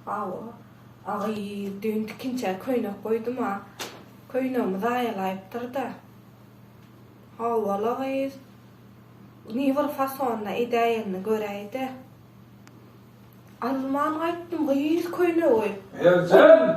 Hawa, agy, düýn tikinçä köýnek goýdum-a, köýnegimi zaýalaýypdyr-da. Hawa-la gyz, ni bir fasonyny edäýenini göräý-dä. Alman gaýtdym gyz köýnegi. Merjen!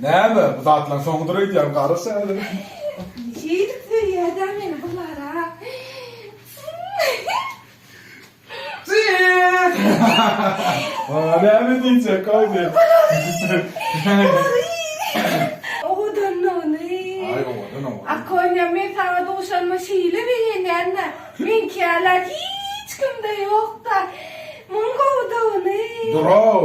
Näme, bu zatlaň soňudyr öýdýän, garaş häzir. Şeýdip söýýädä meni bu gara. Näme diýjek, goýdy. Owadan ony. Aý, owadan, owadan. A Konýa, men saňa duşanyma şeýle begenýän-ä, meňkiäler hiç kimde ýok-da. Muň gowy-da ony. Dur-ow,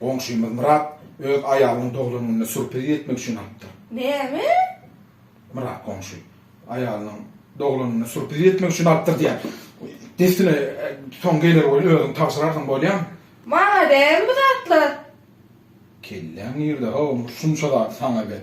Goňşymyz Myrat öz aýalynyň doglan gününe surpriz etmek üçin alypdyr. Näme? Myrat goňşy aýalynyň doglan gününe surpriz etmek üçin alypdyr diýýär. Dessine soň geler welin özüň tabşyrarsyň bolýamy? Maňa däl bu zatlar. Kelläň nirde-haw, şunça zady saňa ber.